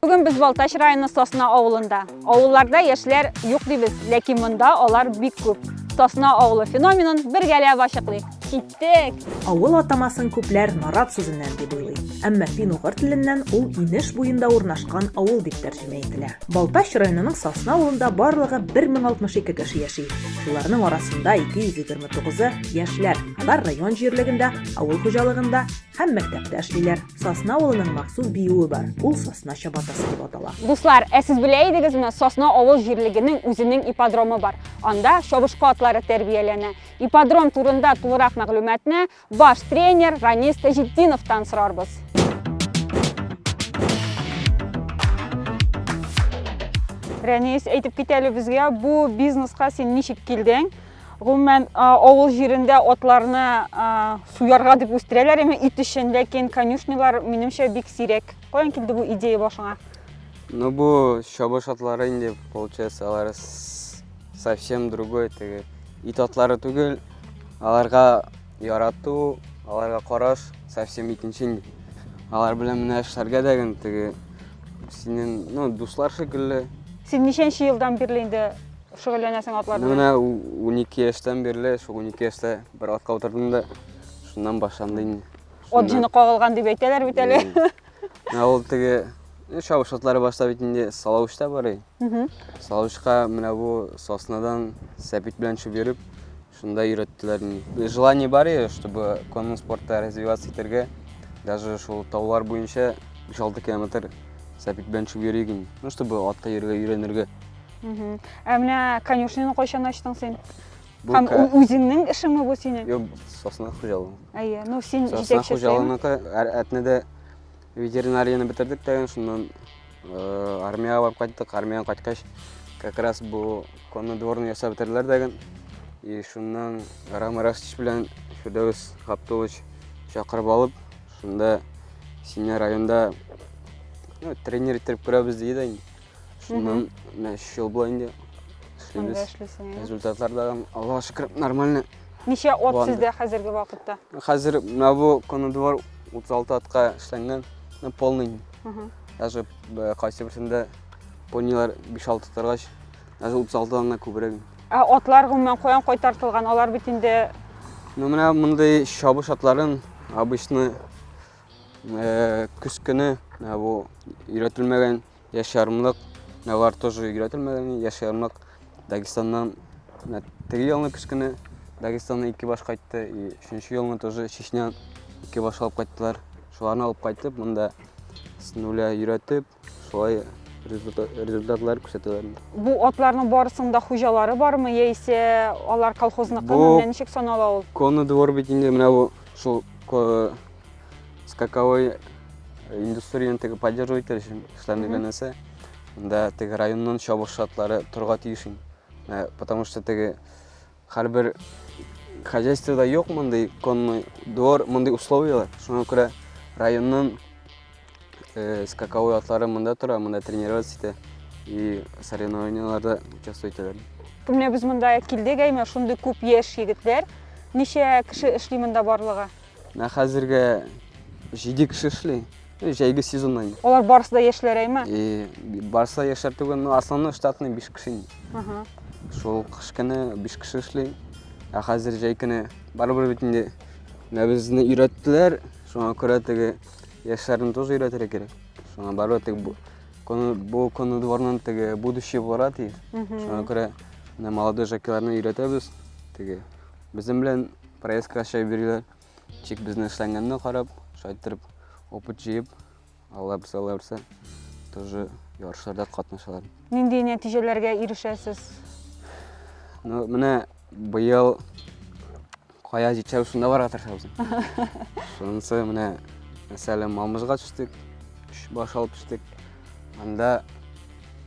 Бүген без Балтач районы Сосна авылында. Авылларда яшьләр юк дибез, ләкин монда алар бик күп. Сосна авылы феноменын бергәләп ачыклыйк. Киттек! Авыл атамасын күпләр нарат сүзеннән дип уйлый. Әмма фин-угыр теленнән ул инеш буенда урнашкан авыл дип тәрҗемә ителә. Балтач районының Сосна авылында барлыгы 1062 кеше яши. Шуларның арасында 220 Тугызы яшьләр алар район җирлегендә авыл хуҗалыгында һәм мәктәптә эшлиләр. Сосна авылының махсус биюе бар, ул сосна чабатасы дип атала. Дуслар, ә сез белә идегезме, Сосна авыл җирлегенең үзенең ипподромы бар. Анда чабышкы атлары тәрбияләнә. Ипподром турында тулырак мәгълүматны Баш тренер Ранис Таҗетдиновтан сорарбыз. Рәнис, әйтеп кит әле безгә, бу бизнеска син ничек килдең? Гомумән, авыл җирендә атларны суярга дип үстерәләр, әмма ит өчен, ләкин конюшнялар, минемчә, бик сирәк. Каян килде бу идея башыңа? Ну, бу чабыш атлары инде, получается, алар совсем другой теге ит атлары түгел аларга ярату аларга караш совсем икенче инде алар белән менә эшләргә дә генә теге синең ну дуслар шикелле син ничәнче елдан бирле инде шөгыльләнәсең атлар белән менә унике яшьтән бирле шул унике яшьтә бер атка утырдым да шуннан башланды инде ат җене кагылган дип әйтәләр бит әле Менә ул теге чабыш атлары башта бит инде салавычта барый. Салавычка менә бу соснадан сәпит белән төшеп йөреп, шунда өйрәттеләр. Желание бар иде, чтобы конный спортта развиваться итәргә. Даже шул таулар буенча 5-6 километр сәпит белән төшеп йөрик инде. Ну, чтобы атка йөрергә өйрәнергә. Ә менә конюшняны кайчан ачтың син? Бу Һәм ка- ү- үзеңнең эшеңме бу синең? Юк, сосна хуҗалыгы. Әйе, ну син Сосна җитәкчесе. хуҗалыгыныкы әр- әтнәдә ветеринарияне бетердек тә, шуннан э, армиягә барып кайттык. Армиягә кайткач, как раз бу конный дворны ясап бетерделәр дәген. И шуннан Рам Растич белән Фирдәвес Габдулович чакырып алып, шунда сине районда ну, тренер иттереп күрәбез диде дә инде. Шуннан менә өч ел була инде эшлибез. Эшлисең. Результатлар да Аллага шөкер нормально. Ничә от сездә хәзерге вакытта? Хәзер менә бу конодвор 36 атка эшләнгән, полный. Даже э, кайсы берсендә понилар 5-6 торгач, даже 36 дан да күбрәк. Ә атлар гомумән каян кайтартылган? Алар бит инде Ну менә мондый чабыш атларын обычно э, көз көне бу өйрәтелмәгән Яшь ярымлык миалар тоже игрәтелмәгән. Яшь ярымлык Дагестаннан менә теге елны көз көне Дагестаннан ике баш кайтты. И өченче елны тоже Чечнян ике баш алып кайттылар. Шуларны алып кайтып, монда снуля өйрәтеп, шулай результатлар күрсәтәләр. Бу атларның барысының да хуҗалары бармы, яисә алар колхозныкымы, менә ничек санала ул? Конный двор бит инде менә бу шул скаковой индустрияне теге поддерживать итәр өчен эшләрне генәсе да теге районнан чабыш шартлары торга тиеш инде Ә, потому что теге һәрбер хозяйствода юк мондый конный двор мондый условиялар шуңа күрә районнан э, скаковой атлары монда тора монда тренироваться итә и соревнованияларда участвовать итәләр Бу Менә без монда килдек, әйме, шундый күп яшь егетләр. Ничә кеше эшли монда барлыгы? Менә хәзергә җиде кеше эшли. Җәйге сезонда инде. Алар барысы да яшьләр әйме? И, барысы да яшьләр түгел, но основной штатный 5 кеше инде. Ага. Шул кыш көне 5 кеше эшли. Ә хәзер җәй көне барыбер бит инде менә безне өйрәттеләр. Шуңа күрә теге яшьләрне тоже өйрәтергә кирәк. Шуңа барыбер теге бу көне бу көне дворның теге будущее булырга тиеш. Мгм. Шуңа күрә менә молодой жокейларны өйрәтәбез. Теге Безнең белән проектка чәй бириләр. Тик безне эшләнгәнне карап, шайтырып опыт җыеп, алла берсе, алла берсе, тоже ярышларда катнашалар. Нинди нәтиҗәләргә ирешәсез? Ну, менә быел кая җитсәбез, шунда барырга тырышабыз. Шунысы менә, мәсәлән, Мамыжга төштек, өч баш алып төштек. Анда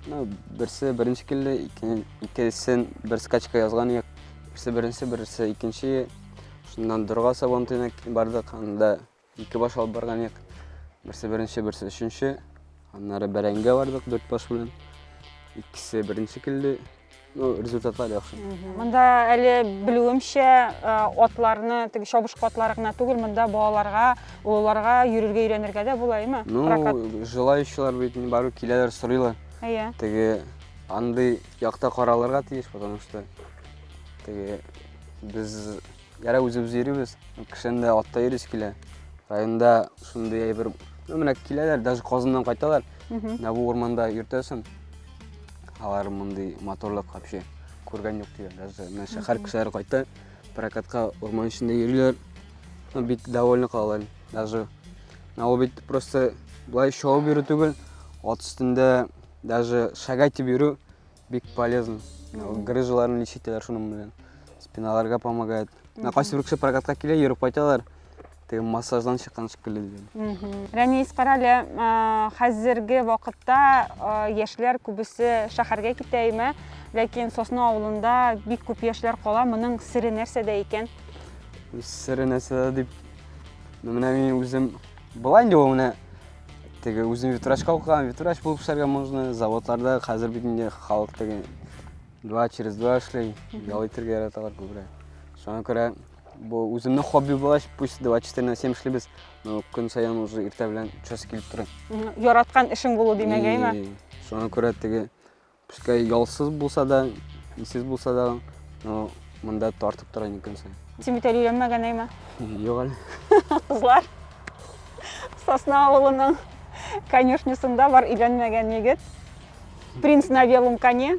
ну, берсе беренче килде, икенчесен бер скачка язган идек. Берсе беренче, берсе икенче. Шуннан дорга сабантуена бардык, анда ике баш алып барган идек. Берсе беренче, берсе өченче. Аннары бәрәңгә бардык дүрт баш белән. Икесе беренче килде. Ну, результатлар яхшы. Монда әле белүемчә э, атларны, теге чабышкы атлары гына түгел, монда балаларга, олыларга йөрергә өйрәнергә дә була, әйме? Ну, Прокат. желающийлар бит барып киләләр, сорыйлар. Әйе. Теге андый Якта каралырга тиеш, потому что теге без ярай үзебез йөрибез, кешене дә атта йөрис килә. Районда шундый әйбер, ну менә киләләр, даже Казаннан кайталар. Менә бу урманда йөртәсең. Алар мондый моторлык вообще күргән юк диләр. Даже менә шәһәр кешеләре кайта, прокатка урман эчендә йөриләр. Ну бик довольны калалар. Даже Ә ул бит просто былай шоу бирү түгел, ат өстендә даже шага итеп йөрү бик полезно грыжаларны ничек итәләр шуның белән спиналарга помогает мына кайсы бер кеше прокатка килә йөреп кайталар теге массаждан чыккан шикелле дигән рәнис карале хәзерге вакытта яшьләр күбесе шәһәргә китә имә ләкин сосна авылында бик күп яшьләр кала моның сере нәрсәдә икән сере нәрсәдә дип менә мин үзем былай инде ул менә теге үзем ветврачка укыган ветврач булып эшләргә можно заводларда хәзер бит инде халык теге два через два эшли ял итәргә яраталар күбрәк шуңа күрә бу үземнең хобби булгач пусть два четыре на семь эшлибез но көн саен уже иртә белән час килеп тора яраткан эшең булу димәгәйме шуңа күрә теге Пускай ялсыз булса да, исез булса да, но монда тартып тора ни көнсен. Син бит әле өйләнмәгән әйме? Юк әле. Кызлар. Сосна авылының конюшнисында бар өйләнмәгән егет. Принц на белом коне.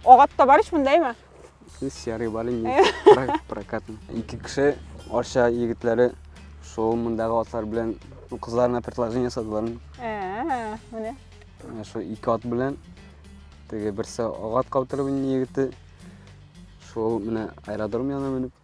Агат та бар ич монда әйме? Серый бар инде, прокатный. Ике кеше Арча егетләре шул мондагы атлар белән кызларына предложение ясадылар. Ә, менә. Шул ике ат белән теге берсе агат каптырып инде егете. Шул менә аэродром янына менеп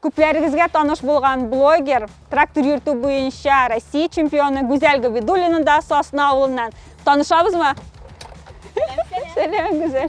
Күпләрегезгә таныш булган блогер, трактор йөртү буенча Россия чемпионы Гүзәл Габидуллина да Сосна авылыннан. Танышабызмы? Сәлам, Гүзәл.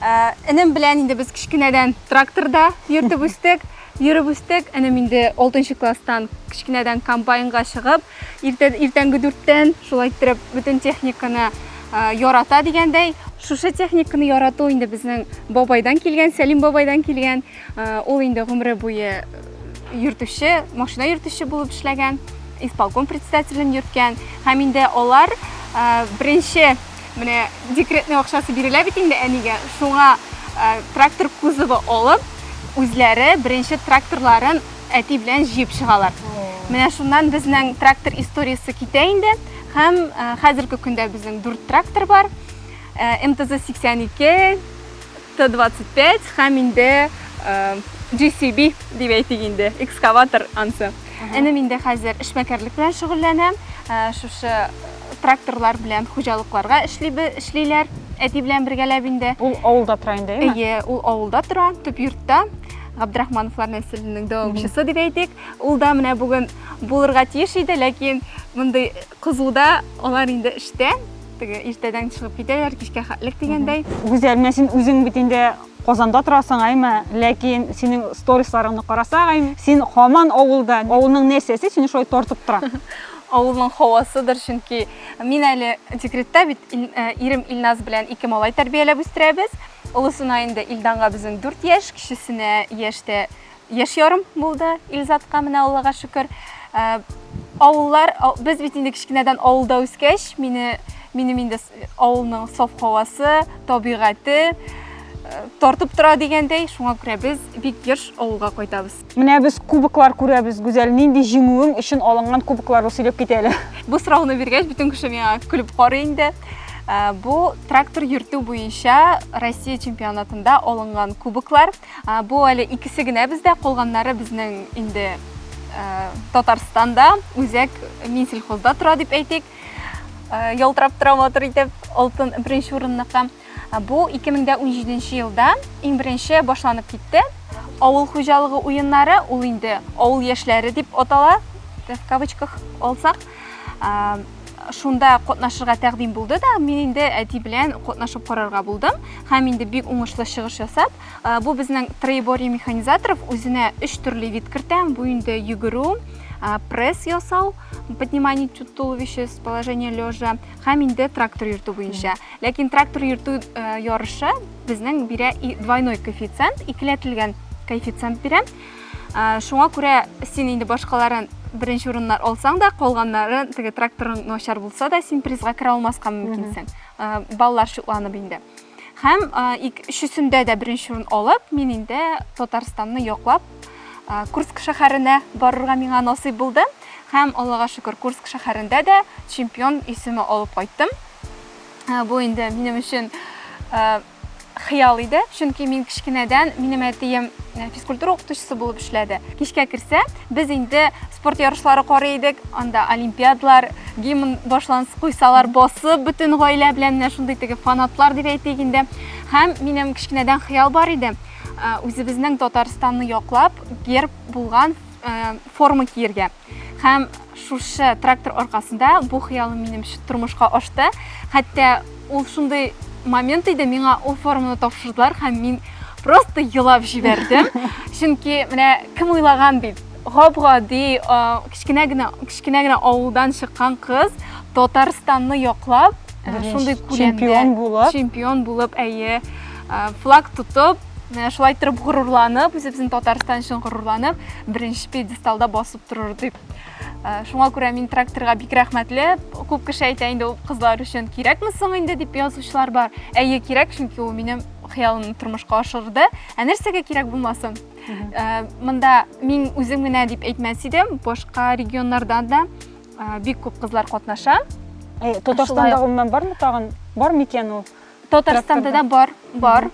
Ә, энем белән инде без кечкенәдән тракторда йөртеп үстек, йөреп үстек. Энем инде 6 класстан кечкенәдән комбайнга чыгып, иртә, иртәнге дүрттән шулай иттереп бөтен техниканы ә, ярата дигәндәй. Шушы техниканы ярату инде безнең бабайдан килгән, Сәлим бабайдан килгән. Ә, ул инде гомере буе йөртүче, машина йөртүче булып эшләгән, исполком председателен йөрткән. Һәм инде алар ә, беренче Менә декретный акчасы бирелә бит инде әнигә. Шуңа э, трактор кузовы алып, үзләре беренче тракторларын әти белән җыеп чыгалар. Менә шуннан безнең трактор историясе китә инде. Һәм э, хәзерге көндә безнең дүрт трактор бар. Э, МТЗ 82, Т-25 һәм инде э, GCB дип әйтик инде, экскаватор ансы. Энем инде хәзер эшмәкәрлек белән шөгыльләнә. Э, шушы тракторлар белән хуҗалыкларга эшлибе, эшлиләр. Әти белән бергәләп инде. Ул авылда тора инде, әйме? Әйе, ул авылда тора, төп йортта. Габдрахмановлар нәселенең дәвамчысы дип әйтик. Ул да менә бүген булырга тиеш иде, ләкин мондый кызуда алар инде эштә. Теге иртәдән чыгып китәләр, кичкә хәтлек дигәндәй. Гүзәл, менә син үзең бит инде Казанда торасың, әйме? Ләкин синең сторисларыңны карасак, әйме? Син хаман авылда. Авылның нәрсәсе сине шулай тартып тора? Авылның һавасыдыр, чөнки мин әле декретта бит, ирем Илназ белән ике малай тәрбияләп үстерәбез. Олысына инде Илданга безнең дүрт яшь, кечесенә яшь тә яшь ярым булды Илзатка, менә Аллага шөкер. Авыллар, без бит инде кечкенәдән авылда үскәч, мине минем инде авылның саф һавасы, табигате тартып тора дигәндәй, шуңа күрә без бик еш авылга кайтабыз. Менә без кубоклар күрәбез, Гүзәл, нинди җиңүең өчен алынган кубокларны сөйләп кит әле. Бу сорауны биргәч, бөтен кеше миңа көлеп карый инде. Э, бу трактор йөртү буенча Россия чемпионатында алынган кубоклар. Э, бу әле икесе генә бездә, калганнары безнең инде э, Татарстанда, үзәк Минсельхозда тора дип әйтик. Ялтырап тора матур итеп, алтын беренче урынныкка. Бу 2017 елда иң беренче башланып китте. Авыл хуҗалыгы уеннары ул инде авыл яшьләре дип атала, в кавычках алсак. Шунда катнашырга тәкъдим булды да, мин инде әти белән катнашып карарга булдым. Һәм инде бик уңышлы чыгыш ясап, бу безнең Троеборье механизаторов үзенә өч төрле вид кертә. Бу инде йөгерү, пресс ясау, поднимание туловища с положения лежа һәм инде трактор йөртү буенча. Ләкин трактор йөртү э, ярышы безнең бирә двойной коэффициент, икеләтелгән коэффициент бирә. Э, шуңа күрә син инде башкаларын беренче урыннар алсаң да, калганнары теге тракторың начар булса да, син призга керә алмаска мөмкинсең. Э, баллар шутланып инде. Һәм өчесендә дә беренче урын алып, мин инде Татарстанны яклап Курск шәһәренә барырга миңа насыйп булды. Һәм Аллага шөкер, Курск шәһәрендә дә чемпион исеме алып кайттым. Бу инде минем өчен хыял иде, чөнки мин кечкенәдән минем әтием э, физкультура укытучысы булып эшләде. Кичкә керсә, без инде спорт ярышлары карый идек, анда олимпиадлар, гимн башланс куйсалар, басып бөтен гаилә белән менә шундый теге фанатлар дип әйтик инде. Һәм минем кечкенәдән хыял бар иде, э, үзебезнең Татарстанны яклап, герб булган э, форма киергә. Һәм шушы трактор аркасында бу хыялым минем тормышка ашты. Хәтта ул шундый момент иде, миңа ул форманы тапшырдылар һәм мин просто елап җибәрдем. Чөнки менә кем уйлаган бит, гап-гади кечкенә генә кечкенә генә авылдан чыккан кыз Татарстанны яклап, шундый күләмдә чемпион булып, чемпион булып, әйе, флаг тотып, Менә шулай торып горурланып, үзебезнең Татарстан өчен горурланып, беренче пьедесталда басып торыр дип. Э, шуңа күрә мин тракторга бик рәхмәтле. Күп кеше әйтә инде ул кызлар өчен кирәкме соң инде дип язучылар бар. Әйе, кирәк, чөнки ул минем хыялымны тормышка ашырды. Ә нәрсәгә кирәк булмасын? Э, монда мин үзем генә дип әйтмәс идем, башка регионнардан да э, бик күп кызлар катнаша. Татарстанда гомумән бармы тагын? Бар микән ул? Татарстанда да бар, бар.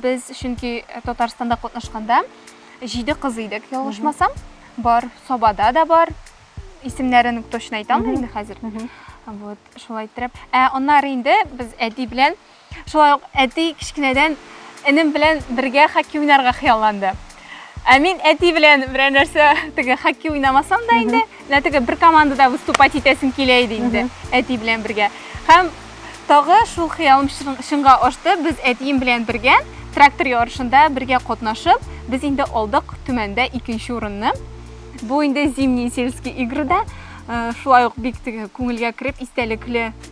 Без чөнки Татарстанда катнашканда җиде кыз идек, ялгышмасам. Бар, Сабада да бар. Исемнәрен точно әйтә алмыйм инде хәзер. Вот, шулай иттереп. Ә аннары инде без әти белән, шулай ук әти кечкенәдән энем белән бергә хоккей уйнарга хыялланды. Ә мин әти белән берәр нәрсә теге хоккей уйнамасам да инде, менә теге бер командада выступать итәсем килә иде инде, әти белән бергә. Һәм тагы шул хыялым чынга ашты. Без әтием белән бергә трактор ярышында бергә катнашып, без инде алдык Төмәндә икенче урынны. Бу инде зимний сельский игрыда э, шулай ук бик теге күңелгә кереп истәлекле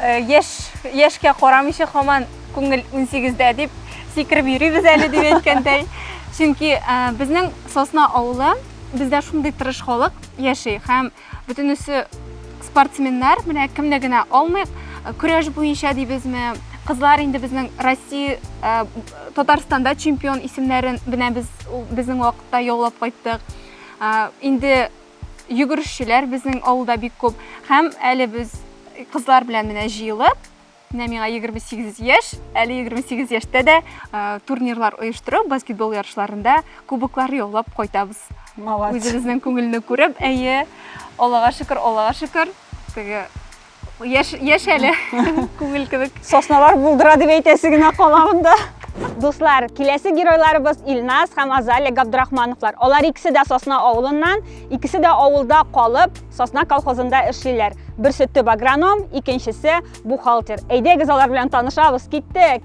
Э, яшь яшькә карамыйча хаман күңел 18-дә дип сикереп йөрибез әле дип әйткәндәй. Чөнки э, безнең Сосна авылы бездә шундый тырыш халык яши һәм бөтенесе спортсменнар, менә кемне генә алмыйк, э, көрәш буенча дибезме, кызлар инде безнең Россия, Татарстанда чемпион исемнәрен бенә без безнең вакытта яулап кайттык. Инде Йөгерешчеләр безнең авылда бик күп. Һәм әле без кызлар белән менә җыелып, менә миңа 28 яшь, әле 28 яшьтә дә турнирлар оештырып, баскетбол ярышларында кубоклар яулап кайтабыз. Үзебезнең күңелне күреп, әйе, Аллага шөкер, Аллага шөкер, теге Яш, яш әле, күңел кебек. Сосналар булдыра дип әйтәсе генә кала монда. Дуслар, киләсе геройларыбыз Илназ һәм Азалия Габдрахмановлар. Алар икесе дә Сосна авылыннан, икесе дә авылда калып, Сосна колхозында эшлиләр. Берсе төп агроном, икенчесе бухгалтер. Әйдәгез алар белән танышабыз, киттек!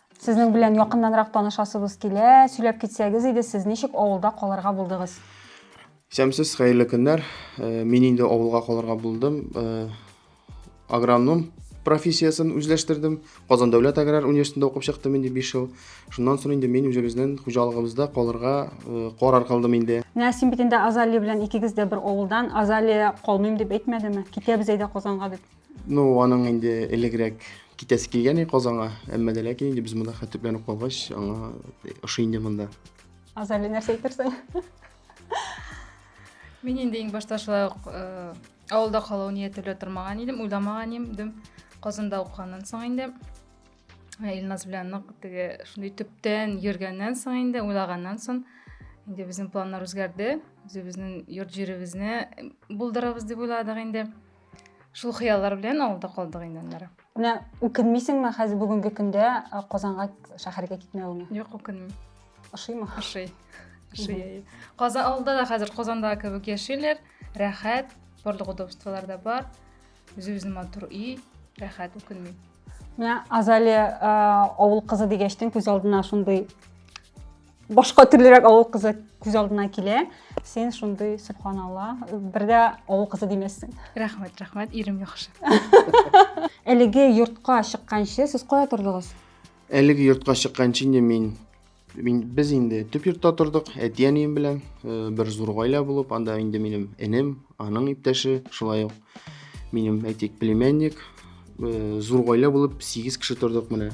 Сезнең белән якыннанрак танышасыбыз килә, сөйләп китсәгез иде, сез ничек авылда калырга булдыгыз? Исәмсез, хәерле көннәр. Э, мин инде авылга калырга булдым. Э, агроном профессиясен үзләштердем казан дәүләт аграр университетында укып чыктым инде биш ел шуннан соң инде мин үзебезнең хуҗалыгыбызда калырга э, карар кылдым инде менә син бит инде азалия белән икегез дә бер авылдан азалия калмыйм дип әйтмәдеме китәбез әйдә казанга дип Ну, аның инде элегрәк китәсе килгән иде Казанга, әмма дә ләкин инде без монда хәтер белән ук калгач, аңа ошый инде монда. Азали нәрсә әйтерсең? Мин инде иң башта шулай ук э, авылда калу нияте белән тормаган идем, уйламаган идем. Казанда укыганнан соң инде э, Илназ белән нык теге шундый төптән йөргәннән соң инде, уйлаганнан соң инде безнең планнар үзгәрде. Үзебезнең йорт җиребезне булдырабыз дип уйладык инде. Шул хыяллар белән авылда калдык инде аннары. Менә үкенмисеңме хәзер бүгенге көндә Казанга шәһәргә китмәвеңә? Юк, үкенмим. Ошыймы? Ошый. Ошый. Казан авылда да хәзер Казандагы кебек яшиләр, рәхәт, барлык удобстволар да бар. Үзе-үзен матур үй, рәхәт үкенмим. Менә Азалия авыл кызы дигәчтен күз алдына шундый башка төрлерәк авыл кызы күз алдына килә син шундый субханалла бер дә авыл кызы димәссең рәхмәт рәхмәт ирем яхшы әлеге йортка чыкканчы сез кая тордыгыз әлеге йортка чыкканчы инде мин мин без инде төп йортта тордык әти әнием белән э, бер зур гаилә булып анда инде минем энем аның иптәше шулай ук минем әйтик племянник э, зур гаилә булып сигез кеше тордык менә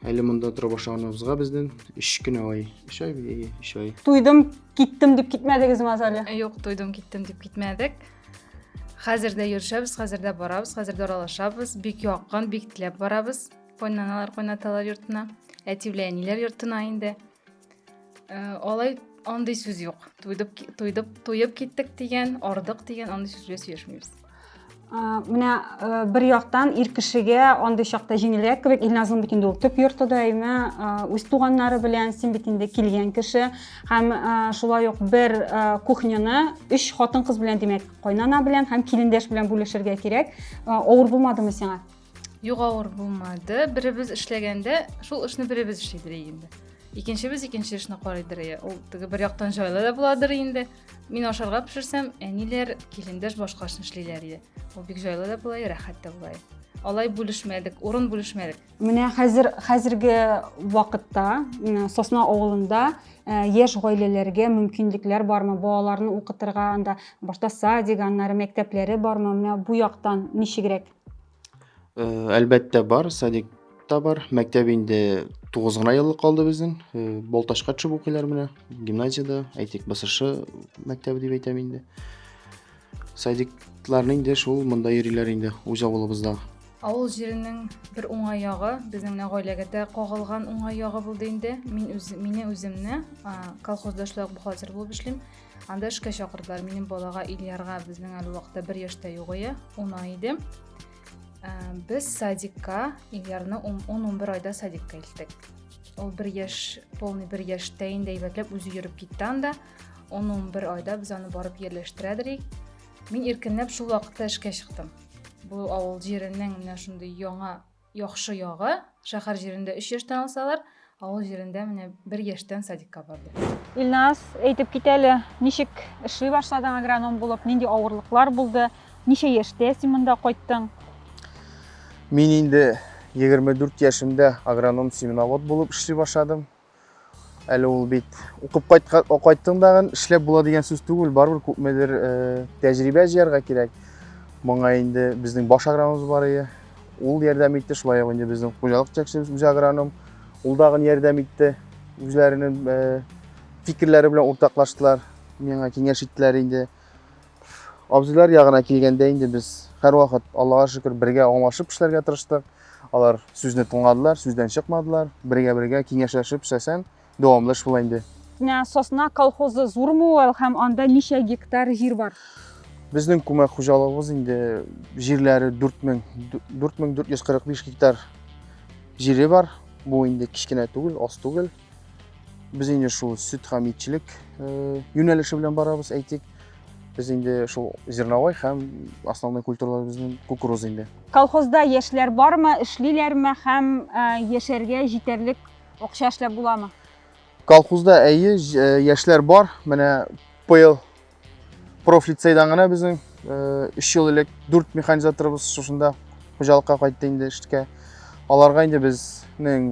Әле монда тора башлаганыбызга бездән 3 кенә ай. 3 ай бии, 3 ай. Туйдым, киттем дип китмәдегез Мазали? Э, Юк, туйдым, киттем дип китмәдек. Хәзер дә йөршәбез, хәзер дә барабыз, хәзер дә аралашабыз. Бик якын, бик теләп барабыз. Кайнаналар, кайнаталар йортына. Әти белән әниләр йортына инде. алай андый сүз юк туйдып туйдып туеп киттек дигән ардык дигән андый сүз белән сөйләшмибез менә бер яктан ир кешегә андый чакта җиңелрәк кебек илназның бит инде ул төп йорты да әйме үз туганнары белән син бит инде килгән кеше һәм шулай ук бер кухняны өч хатын кыз белән димәк кайнана белән һәм килендәш белән бүлешергә кирәк авыр булмадымы сиңа Юк авыр булмады. Беребез эшләгәндә шул эшне беребез эшлидер инде. Икенчебез икенче эшне карыйдыр. Ул теге бер яктан җайлы да буладыр инде. Мин ашарга пешерсәм, әниләр, килендәш башка эшне эшлиләр иде. Ул бик җайлы да була, рәхәт тә була. Алай бүлешмәдек, урын бүлешмәдек. Менә хәзер хәзерге вакытта Сосна авылында Э, яшь гаиләләргә мөмкинлекләр бармы балаларны укытырга анда башта садик аннары мәктәпләре бармы менә бу яктан ничегрәк Э, әлбәттә бар, садик та бар. Мәктәп инде 9 гына еллык калды безнең. Э, Балтачка төшеп укыйлар менә. Гимназиядә, әйтик, БСШ мәктәбе дип әйтәм инде. Садикларны инде шул монда йөриләр инде үз авылыбызда. Авыл җиренең бер уңай ягы, безнең менә гаиләгә дә кагылган уңай ягы булды инде. Мин үз, мине үземне колхозда эшләү бухгалтер булып эшлим. Анда эшкә чакырдылар. Минем балага Ильярга безнең әле вакытта бер яшьтә югыя, уна иде. Ә, без садикка Ильярны 10-11 айда садикка илттек. Ул бер яшь, полный бер яшьтә инде әйбәтләп үзе йөреп китте анда. 10-11 айда без аны барып ерләштерәдерик. Мин иркенләп шул вакытта эшкә чыктым. Бу авыл җиренең менә шундый яңа Яхшы ягы, шәһәр җирендә өч яшьтән алсалар, авыл җирендә менә бер яшьтән садикка барды. Илназ, әйтеп кит әле, ничек эшли башладың агроном булып, нинди авырлыклар булды, ничә яшьтә син монда кайттың? Мин инде 24 яшемдә агроном-семеновод булып эшли башладым. Әле ул бит укып кайттың да эшләп була дигән сүз түгел, барыбер күпмедер э, тәҗрибә җыярга кирәк. Моңа инде безнең баш агрономыбыз бар иде. Ул ярдәм итте, шулай ук инде безнең хуҗалык җитәкчебез үз агроном. Ул дагы ярдәм итте. Үзләренең э, фикерләре белән уртаклаштылар. Миңа киңәш иттеләр инде. Абзыйлар ягына килгәндә инде без һәрвакыт Аллага шөкер бергә аңлашып эшләргә тырыштык. Алар сүзне тыңладылар, сүздән чыкмадылар. Бергә-бергә киңәшләшеп эшләсәң, дәвамлы эш була инде. Менә Сосна колхозы зурмы ул һәм анда ничә гектар җир бар? Безнең күмәк хуҗалыгыбыз инде җирләре 4000 4445 гектар җире бар. Бу инде кечкенә түгел, аз түгел. Без инде шул сөт һәм итчелек юнәлеше белән барабыз, әйтик. Без инде шул зерновой һәм основной культураларыбызның кукуруз инде. Колхозда яшьләр бармы, эшлиләрме һәм яшәргә җитәрлек акча эшләп буламы? Колхозда әйе, яшьләр бар. Менә быел профлицейдан гына безнең өч ел элек дүрт механизаторыбыз шушында хуҗалыкка кайтты инде эшкә аларга инде безнең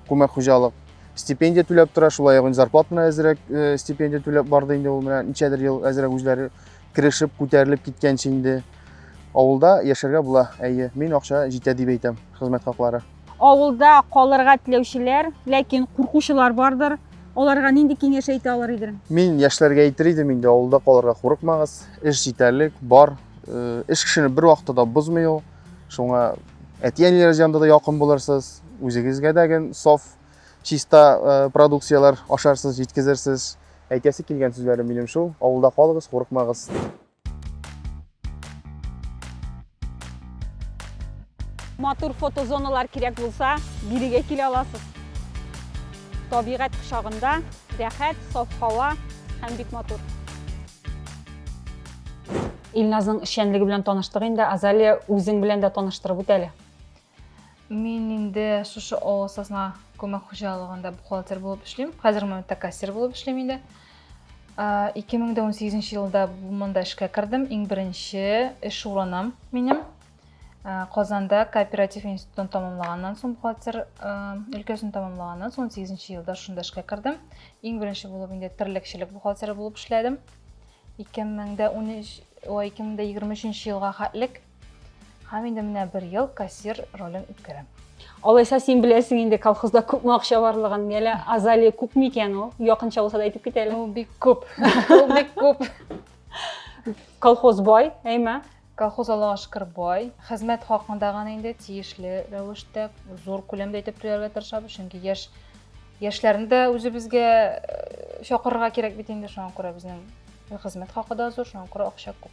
күмәк хуҗалык стипендия түләп тора шулай ук зарплат менә әзрәк стипендия түләп барды инде ул менә ничәдер ел әзрәк үзләре керешеп күтәрелеп киткәнче инде авылда яшәргә була әйе мин акча җитә дип әйтәм хезмәт хаклары Авылда калырга теләүчеләр, ләкин куркучылар бардыр. Аларга нинди киңәш әйтә алыр идең? Мин яшьләргә әйтер идем инде, авылда калырга курыкмагыз. Эш җитәрлек, бар. Э, эш кешене бер вакытта да бозмый ул. Шуңа әти-әниләрегез янында да якын булырсыз, үзегезгә дә гел саф, чиста э, продукцияләр ашарсыз, җиткезерсез. Әйтәсе килгән сүзләрем минем шул. Авылда калыгыз, курыкмагыз. Матур фотозоналар кирәк булса, бирегә килә аласыз. Табигать кочагында рәхәт, саф һава һәм бик матур. Илназның эшчәнлеге белән таныштык инде. Азалия, үзең белән дә таныштырып үт әле. Мин инде шушы авыл сазна күмәк хуҗалыгында бухгалтер булып эшлим. Хәзер монда кассир булып эшлим инде. 2018 елда монда эшкә кердем. Иң беренче эш урыным минем Казанда кооператив институтын тамамлаганнан соң бухгалтер өлкәсен тамамлаганнан соң 18 елда шунда эшкә кердем. Иң беренче булып инде терлекчелек бухгалтеры булып эшләдем. 2013 ой 2023 елга хәтлек Һәм инде менә бер ел кассир ролен үткәрәм. Алайса син беләсең инде колхозда күпме акча барлыгын, әле азалия күп микән ул? Якынча булса да әйтеп кит әле. Ул бик күп. Ул бик күп. Колхоз бай, әйме? Колхоз Аллага шөкер бай. Хезмәт хакында гына инде тиешле рәвештә зур күләмдә итеп түләргә тырышабыз, чөнки яшь яшьләрне дә үзебезгә э, чакырырга кирәк бит инде, шуңа күрә безнең хезмәт хакы да зур, шуңа күрә акча күп.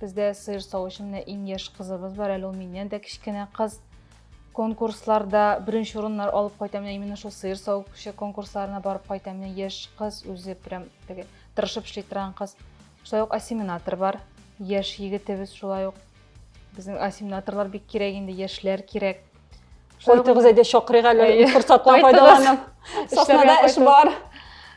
Бездә сыер савучы менә иң яшь кызыбыз бар, әле ул миннән дә кечкенә кыз. Конкурсларда беренче урыннар алып кайта, менә именно шул сыер савучы конкурсларына барып кайта, менә яшь кыз үзе прям теге тырышып эшли торган кыз. Шулай ук осеменатор бар, яшь егетебез шулай ук. Безнең осеменаторлар бик кирәк инде, яшьләр кирәк. Кайтыгыз әйдә чакырыйк әле Әйе. форсаттан Кайтыгыз. файдаланып. Саснада эш кайтыгыз. бар.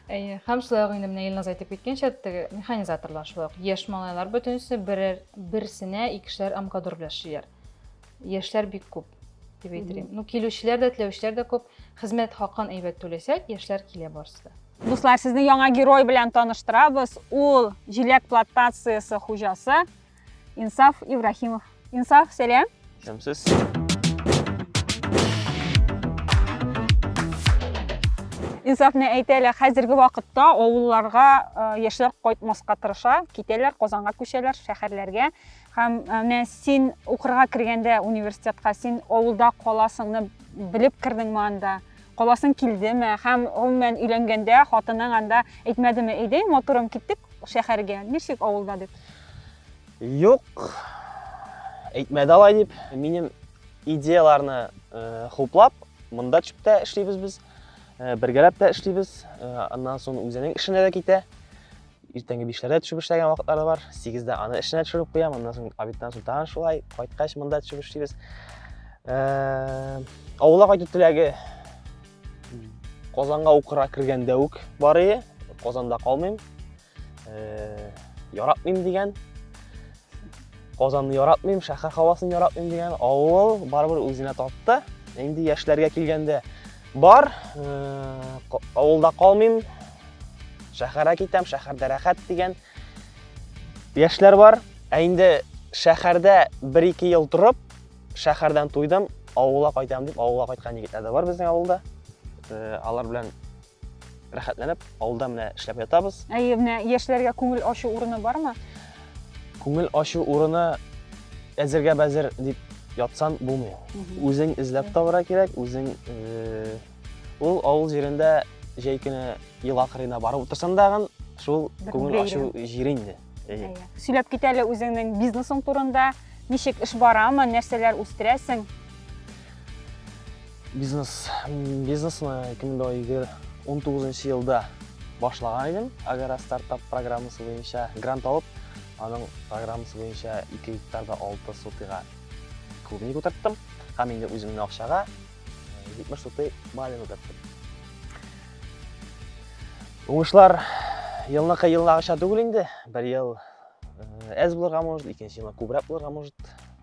Әйе, һәм шулай ук инде менә Илназ әйтеп киткәнчә, теге механизаторлар шулай ук яшь малайлар бөтенесе берәр берсенә икешәр амгадор белән эшлиләр. Яшьләр бик күп дип әйтелгән. Ну, килүчеләр дә, теләүчеләр дә күп. Хезмәт хакын әйбәт түләсәк, яшьләр килә барысы да. Дуслар, сезне яңа герой белән таныштырабыз. Ул җиләк плантациясе хуҗасы Инсаф Ибрахимов. Инсаф, сәлам. Шәмсез. Инсаф не әйтә әле, хәзерге вакытта авылларга э, яшьләр кайтмаска тырыша, китәләр, Казанга күчәләр, шәһәрләргә. Һәм э, менә син укырга кергәндә университетка, син авылда каласыңны белеп кирдеңме анда? Каласың килдеме? Һәм, гомумән, өйләнгәндә хатының анда әйтмәдеме, әйдәй, матурым, киттек шәһәргә, нишлик авылда дип? Юк, әйтмәде алай дип. Минем идеяларны э, хуплап, монда төшеп тә эшлибез без, э, бергәләп тә эшлибез. Э, аннан соң үзенең эшенә дә китә. Иртәнге бишләрдә төшеп эшләгән вакытлары бар. Сигездә аны эшенә төшереп куям, аннан соң обедтан соң тагын шулай, кайткач монда төшеп эшлибез. Ә, авылга кайту теләге Казанга укырга кергәндә үк бар иде. Казанда калмыйм. Ә, яратмыйм дигән. Казанны яратмыйм, шәһәр һавасын яратмыйм дигән авыл барыбер үзенә тапты. Инде яшьләргә килгәндә бар, э, авылда калмыйм, шәһәргә китәм, шәһәрдә рәхәт дигән яшьләр бар. Ә инде шәһәрдә 1-2 ел торып, шәһәрдән туйдым, авылга кайтам дип, авылга кайткан егетләр дә бар безнең авылда. Э, алар белән Рәхәтләнеп, авылда менә эшләп ятабыз. Әйе, менә яшьләргә күңел ачу урыны бармы? Күңел ачу урыны әзергә бәзер дип ятсан булмый. Үзең эзләп табыра кирәк, үзең э, ул авыл җирендә җәй көне елга кырыена барып утырсаң дагын шул күңел ачу җир инде. Сөйләп кит әле үзеңнең бизнесың турында, ничек эш барамы, нәрсәләр үстерәсең? Бизнес, бизнесны 2019 елда башлаган идем. Агара стартап программасы буенча грант алып, аның программасы буенча 2 гектарда 6 сутыга клубник утырттым. Һәм инде үземнең акчага 70 э, сутый малин утырттым. Уңышлар елныкы елнагыча түгел инде. Бер ел әз э, булырга может, икенче елны күбрәк булырга может.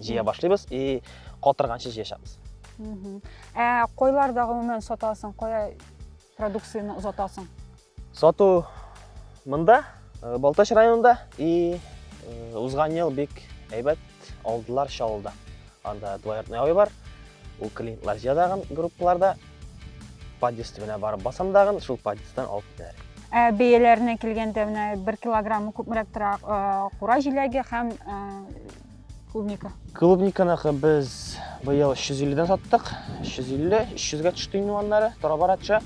җыя башлыйбыз и катырганчы җыячакбыз ә койларда гомумән сатасың кая продукцияне озатасың сату монда э, балтач районында и э, узган ел бик әйбәт алдылар чаллыда анда двояртный авы бар Ул клиентлар җыядагын группаларда подъезд төбенә барып басам дагын, шул подъезддан алып китәләр. Ә бәяләренә килгәндә менә 1 килограмм күпмерәк тора кура җиләге һәм клубника. Клубниканыкы без быел 350-дән саттык. 350, 300-гә төште инде аннары, тора-барача.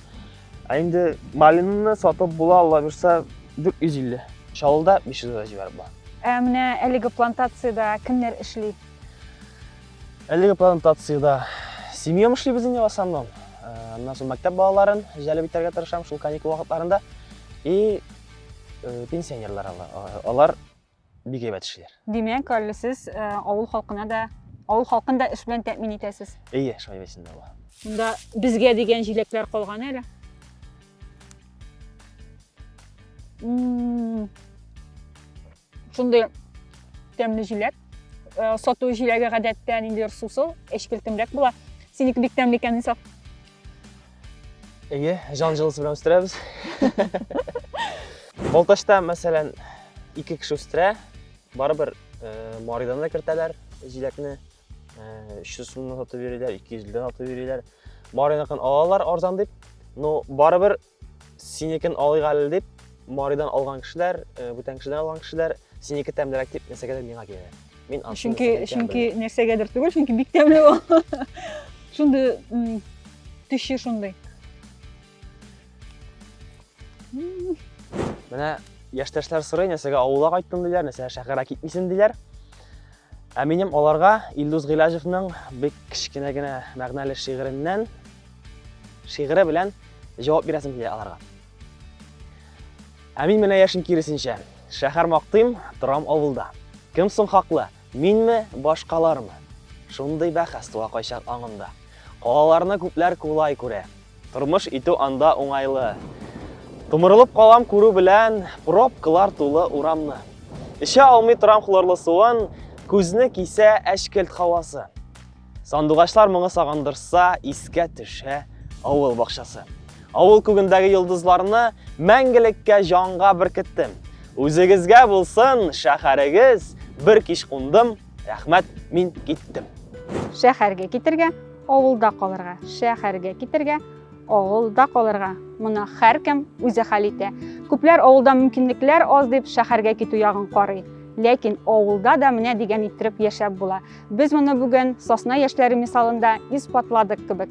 Ә инде малинаны сатып була, Алла бирсә, 450. Чаллыда 500-гә җибәреп була. Ә менә әлеге плантацияда кемнәр эшли? Әлеге плантациядә семьям эшлибез инде в основном. Э, аннан соң мәктәп балаларын җәлеп итәргә тырышам шул каникул вакытларында. И э, пенсионерлар алар бик әйбәт эшлиләр. Димәк, әле сез э, авыл халкына да, авыл халкын да эш белән тәэмин итәсез. Әйе, шулай бесендә була. Монда безгә дигән җиләкләр калган әле. Шундый тәмле җиләк. Э, сату җиләге гадәттә ниндидер сусыл, әчкелтемрәк була. Синеке бик тәмле икән, Исаф. Әйе, җан җылысы белән үстерәбез. Балтачта, мәсәлән, ике кеше үстерә, барыбер э, Маридан да кертәләр җиләкне. 300 э, сумнан сатып йөриләр, 200 дән сатып йөриләр. Мариныкын алалар арзан дип, но барыбер Синекен алыйк әле дип, Маридан алган кешеләр, э, бүтән кешедән алган кешеләр, синеке тәмлерәк дип нәрсәгәдер миңа килә. Мин ансыз Чөнки нәрсәгә икәнен чөнки белмим. нәрсәгәдер түгел, чөнки бик тәмле ул. Шундый м, төче шундый. М, Менә яшьтәшләр сорый, нәрсәгә авылга кайттың диләр, нәрсәгә шәһәргә китмисең диләр. Ә минем аларга Илдус Гыйләҗевның бик кечкенә генә мәгънәле шигыреннән шигыре белән җавап бирәсем килә аларга. Ә мин менә яшен киресенчә, шәһәр мактыйм, торам авылда. Кем соң хаклы, минме, башкалармы? Шундый бәхәс туа кайчак аңымда. Калаларны күпләр кулай күрә, Тормыш итү анда уңайлы. Томырылып калам күрү белән пробкалар тулы урамны. Эчә алмый торам хлорлы суын, күзне кисә әчкелт хавасы. Сандугачлар моңы сагындырса, искә төшә авыл бакчасы. Авыл күгендәге йолдызларны мәңгелеккә җанга беркеттем. Үзегезгә булсын шәһәрегез, бер кич кундым, Рәхмәт, мин киттем. Шәһәргә китергә, авылда калырга. Шәһәргә китергә, авылда калырга. Моны һәркем үзе хәл итә. Күпләр авылда мөмкинлекләр аз дип шәһәргә китү ягын карый. Ләкин авылда да менә дигән иттереп яшәп була. Без моны бүген сосна яшьләре мисалында исбатладык кебек.